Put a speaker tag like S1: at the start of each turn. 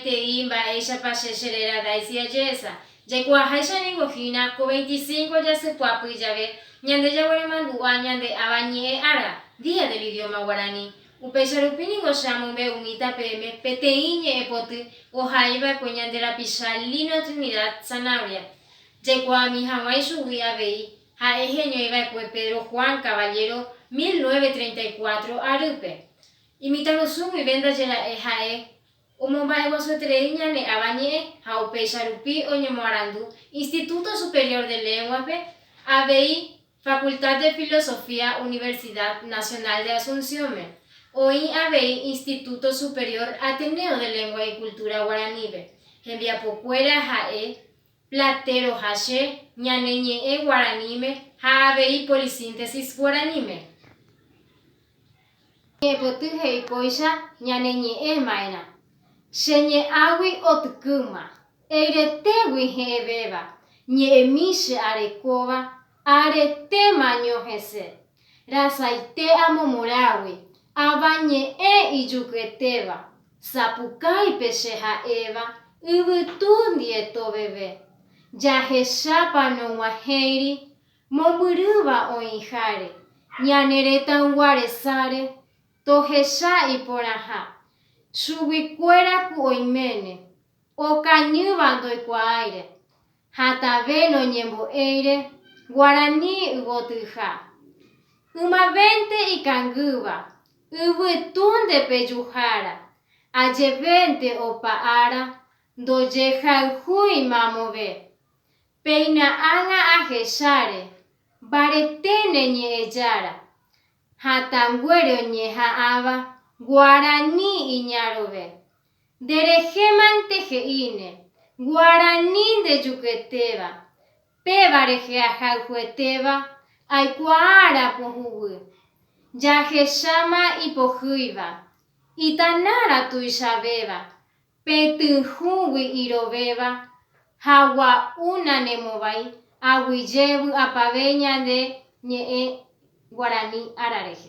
S1: Peteĩ mba'éichapa che che réra Daisy aje'ésa. Jaikuaaháicha ningo hína, ko veinticinco jasypyapy jave, ñande jagueremandu'a ñande Ava Ñe'ẽ Ára, Día del Idioma Guaraní. Upéicha rupi ningo che amombe'umíta peẽme peteĩ ñe'ẽ poty ohai va'ekue ñande rapicha Lino Trinidad Zanabria. Jaikuaami haguã ichugui avei, ha'e heñói va'ekue Pedro Juan Caballero mil nueve treinta y cuatro arýpe. Imitãrusu guive ndaje ra'e ha'e Omomba'eguasueterei ñane Avañe'ẽ ha upéicha rupi oñemoarandu Instituto Superior de Lengua-pe, avei Facultad de Filosofía Universidad Nacional de Asunción-me, oĩ avei Instituto Superior Ateneo de Lengua y Cultura Guaraní-pe, hembiapokuéra ha'e Platero ha che, ñane ñe'ẽ guaraníme ha avei polisíntesis guaraníme. Ñe'ẽpoty he'i kóicha ñane ñe'ẽ ma'erã. Che ñe'ãgui otykýma, eiretégui he'ẽvéva, ñe'ẽmi che arekóva, aretéma ñohesẽ. Rasaite amo morágui, avañe'ẽ ijukyetéva, Sapukái pe che ha'éva yvytu ndieto veve, jahechápa noguahẽiri mombyrýva oĩháre, ñane retãygua resáre, tohecha iporãha, chuguikuéra ku oiméne, okañýva ndoikuaáire, Ha tave noñembo'éire guarani yvotyha. Ymavénte ikangýva, yvytúnde pejuhára, ajevénte opa ára ndojehayhúi mamove. Péina ágã ahecháre, mbareténe ñe'ẽjára, hatãnguére oñeha'ãva guarani iñarõve. Nde rehemante he'íne, guarani ndejuketéva, péva rehe ahayhuetéva aikuaárã pohũgui. Jahecháma ipohýiva, itanárã tuichavéva, Petyhũgui irovéva ha gua'u nanemovái aguyje vy'apave ñande ñe'ẽ guarani ára rehe.